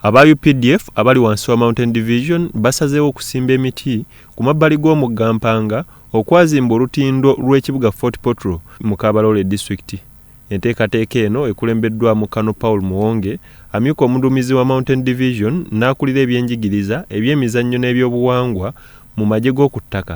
Aba updf abali wansi wa Mountain Division basazeewo okusimba emiti ku mabbali g'omugga Mpanga okwazimba olutindo lw'ekibuga Fort Portal mu Kabarole District. Enteekateeka eno ekulembeddwamu Colonel Paul Muwonge, amyuka omuduumizi wa Mountain Division n'akulira ebyenjigiriza, ebyemizannyo n'ebyobuwangwa mu magye g'okuttaka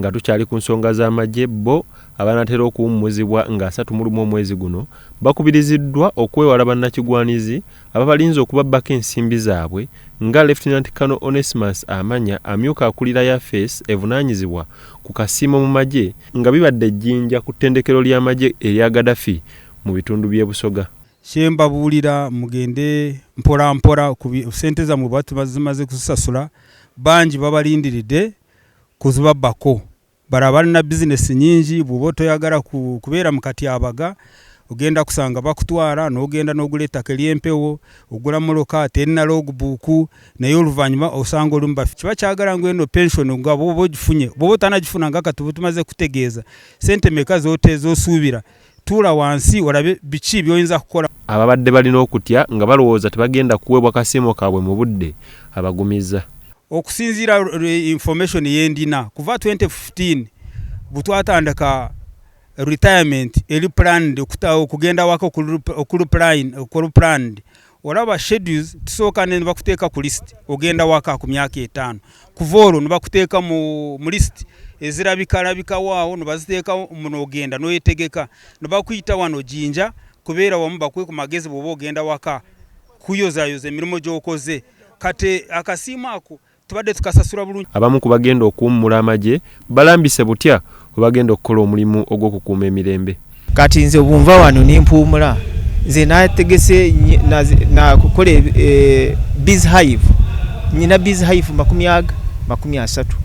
Nga tukyali ku nsonga z'amagye, bbo abanaatera okuwummuzibwa nga asatu mu lumu omwezi guno bakubiriziddwa okwewala bannakigwanizi ababalinze okubabbako ensimbi zaabwe nga Lieutenant Colonel Onesmus Amanya amyuka akulira yafeesi evunaanyizibwa ku kasiimo mu magye nga bibadde e Jinja ku ttendekero ly'amagye erya Gaddafi mu bitundu by'e Busoga. Kye mbabuulira mugende mpolampola ku ssente zammwe bwe batuba zimaze kuzisasula bangi babalindiridde kuzibabbako. Bala balina business nnyingi bw'oba otoyagala ku kubeera mu katyabaga ogenda kusanga bakutwala n'ogenda n'ogula ettaka ery'empewo, ogula moloka terina log book naye oluvannyuma osanga olumu bafi. Kiba kyagala ngu eno pension nga bw'oba ogifunye bw'oba otanagifuna nga kati oba tumaze kukutegeeza ssente meka z'ote z'osuubira. Tuula wansi olabe biki by'oyinza kukola. Ababadde balina okutya nga balowooza tebagenda kuweebwa kasiimo kaabwe mu budde abagumizza. Okusinziira lwe information yendina kuva twenty fifteen bwetwatandika retirement eri planned okugenda awaka okuli planned olaba schedules tusooka ne bakuteeka ku list ogenda waka ku myaka etaano kuva olwo ne bakuteeka mu list ezirabikalabikawo awo ne baziteeka munoogenda n'oyetegeka ne bakuyita wano jinja kubeera wamu bakuwe ku magezi bw'oba ogenda waka kuyozayoza emirimu gy'okoze kati akasiimu ako tubadde tukasasula bulungi. Abamu ku bagenda okuwummula amagye balambise butya bwe bagenda okukola omulimu ogw'okukuuma emirembe. Kati nze obu nva wano ne mpuumula, nze nategese nakukola e, biz hive nyina biz hive makumi aga makumi asatu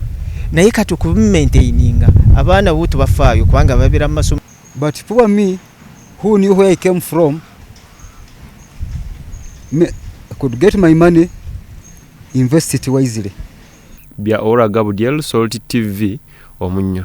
naye kati okumaintaininga abaana bo tubafaayo kubanga babeera mu masomo but poor me who knew where i came from me, I could get my money Invest it wisely. Bya Ora Gabudyel Salt TV omunnyo.